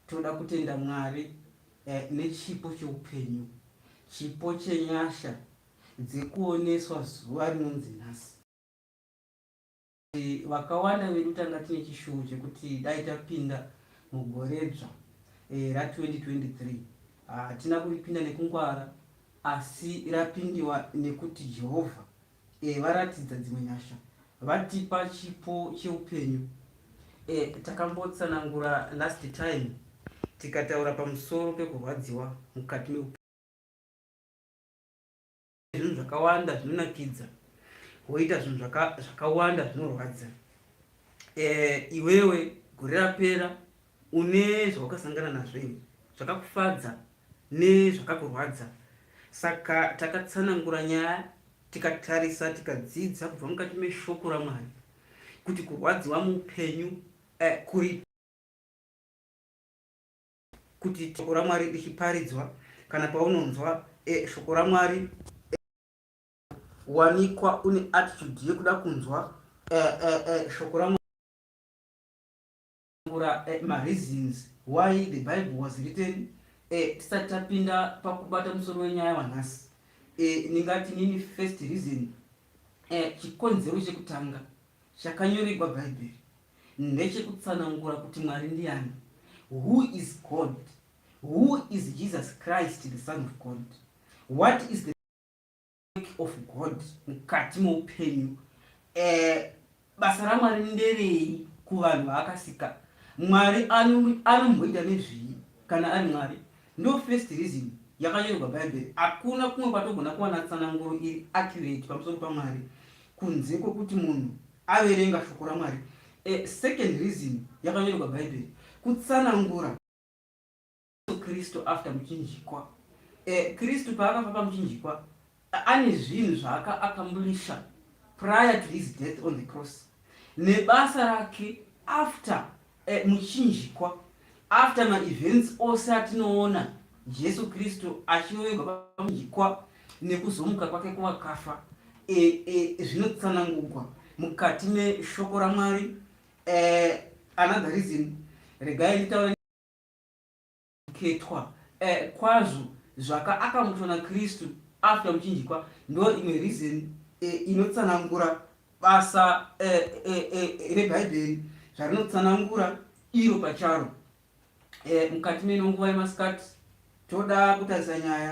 Toda kutenda Mwari nechipo cheupenyu, chipo chenyasha dzekuoneswa zuva rinonzi nhasi. Vakawanda vedu tanga tine chishuwo chekuti dai tapinda mugore dzva ra 2023 hatina kuripinda nekungwara asi rapindiwa nekuti Jehovha E, varatidza dzimwe nyasha. Vatipa chipo cheupenyu. E, takambotsanangura last time tikataura pamusoro pekurwadziwa mukati meupenyu. Zvinhu zvakawanda zvinonakidza woita zvinhu zvakawanda zvinorwadza. E, iwewe gore rapera Une zvawakasangana nazvo ini, zvakakufadza nezvakakurwadza. Saka takatsanangura nyaya tikatarisa tikadzidza kubva mukati meshoko raMwari kuti kurwadziwa muupenyu eh, kuri kuti shoko raMwari richiparidzwa kana paunonzwa eh, shoko raMwari eh, wanikwa une attitude yekuda kunzwa eh, eh, eh, shoko raMwari kutsanangura eh, mareasons why the bible was written eh, tisati tapinda pakubata musoro wenyaya wanhasi eh, ningati nini first reason eh, chikonzero chekutanga chakanyoregwa bhaibheri ndechekutsanangura kuti mwari ndiani who is god who is jesus christ the son of god what is the of God mukati meupenyu eh, basa ramwari nderei kuvanhu vaakasika mwari anomboita nezvii kana ari mwari ndo first reason yakanyorwa bhaibheri hakuna kumwe kwatogona kuwana tsananguro iri accurate pamusoro pamwari kunze kwekuti munhu averenga shoko ramwari eh, second reason yakanyorwa bhaibheri kutsanangura Kristu after muchinjikwa. Eh, Kristu paakafa pamuchinjikwa ane zvinhu zvaaka accomplisha prior to his death on the cross nebasa rake after eh, muchinjikwa after maevents ose atinoona jesu kristu achirovegwa pamuchinjikwa nekuzomuka kwake kuvakafa eh, eh, zvinotsanangugwa mukati meshoko ramwari eh, another reason regai nditaura khetwa eh, kwazvo zvaka akamutswa na Kristu after muchinjikwa ndo imwe reason eh, inotsanangura basa eh, eh, eh, eh rebhaibheri zvarinotsanangura iro pacharo eh, mukati meno nguva yemasikati toda kutarisa nyaya